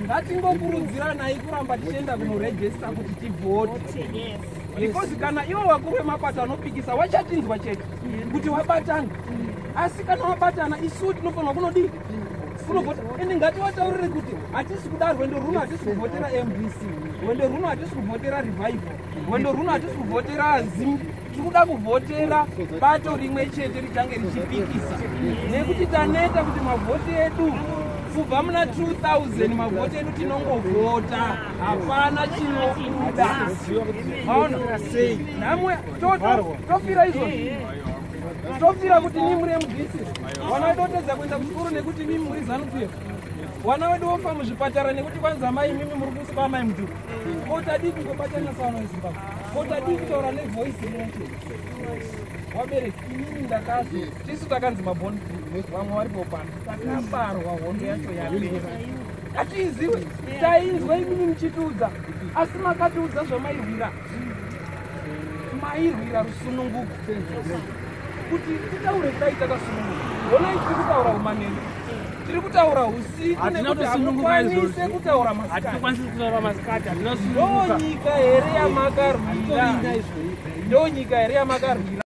ngatingokurudziranai kuramba tichienda kunorejesta kuti tivhote because kana ivo vakuru vemapato vanopikisa wachatinzwa chete kuti wabatana asi kana wabatana isu tinofanirwa kunodii kunovhota ende ngativataurire kuti hatisi kuda rwendo rwuno hatisi kuvhotera mbc rwendo rwuno hatisi kuvhotera revival rwendo rwuno hatisi kuvhotera zim tikuda kuvhotera bato rimwe chete richange richipikisa nekuti taneta kuti mavhoti edu kubva muna 2000 mavhoti edu tinongovhota hapana chinobuda aona namwe tofira izvozvi tofira kuti ni muri mudisi vana vedu votedza kuenda kuchikoro nekuti mimi muri zanupf vana vedu vofa muzvipatara nekuti kwanza mai mimi muri kusiba mai mudhuru tisu takanzi mabon vamwe vari popana takabarwa hondo yacho yapera hatiiziwe tainzwa imini muchitiudza asi makatiudza zvamaihwira mairwira rusununguko kuti titaure kudai takasununguka honai tiri kutaura umanene tiri kutaura usiku nekuti hamukwanise kutaura masikatindonyika here yamakarwira ndonyika here yamakarwira